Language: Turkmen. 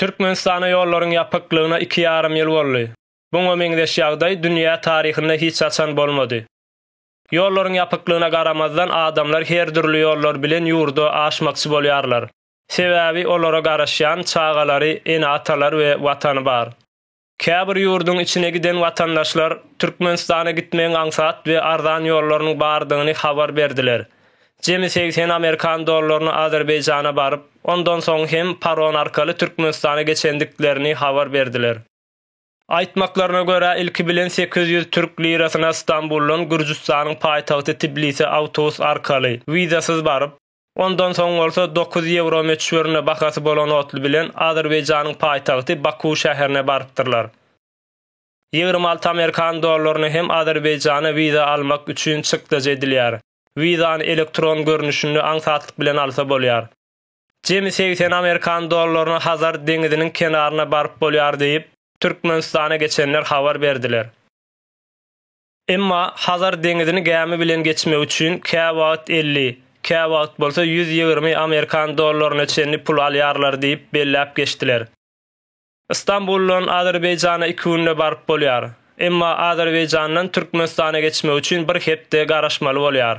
Türkmenistana ýollaryň ýapyklygyna iki ýarym ýyl boldy. Buňa meňzeş ýagdaý dünýä taryhynda hiç haçan bolmady. Ýollaryň ýapyklygyna garamazdan adamlar her dürli ýollar bilen ýurda aşmakçy bolýarlar. Sebäbi olara garaşýan çagalary, ene-atalary we Watany bar. Käbir ýurduň içine giden watandaşlar Türkmenistana gitmegiň aňsat we arzan ýollarynyň bardygyny habar berdiler. Jemi segsen amerikan dollaryna Azerbaýjana baryp, ondan soň hem paron arkaly Türkmenistana geçendiklerini habar berdiler. Aýtmaklaryna görä, ilki bilen sekiz ýüz türk lirasyna Stambuldan Gürjüstanyň paýtagty Tbilise awtobus arkaly, wizasyz baryp, Ondan soň bolsa dokuz ýewro möçberinde bahasy bolan otly bilen Azerbaýjanyň paýtagty Baku şäherine barypdyrlar. Ýigrimi alty amerikan dollaryna hem Azerbaýjana wiza almak üçin çykdajy edilýär. Wizany elektron görnüşinde aňsatlyk bilen alsa bolýar. Jemi segsen amerikan dollaryna Hazar deňiziniň kenaryna baryp bolýar diýip, Türkmenistana geçenler habar berdiler. Emma Hazar deňizini gämi bilen geçmek üçin käwagt elli, käwagt bolsa ýüz ýigrimi amerikan dollaryna çenli pul alýarlar diýip belläp geçdiler. Stambuldan Azerbaýjana iki günde baryp bolýar. Emma Azerbaýjandan Türkmenistana geçmek üçin bir hepde garaşmaly bolýar.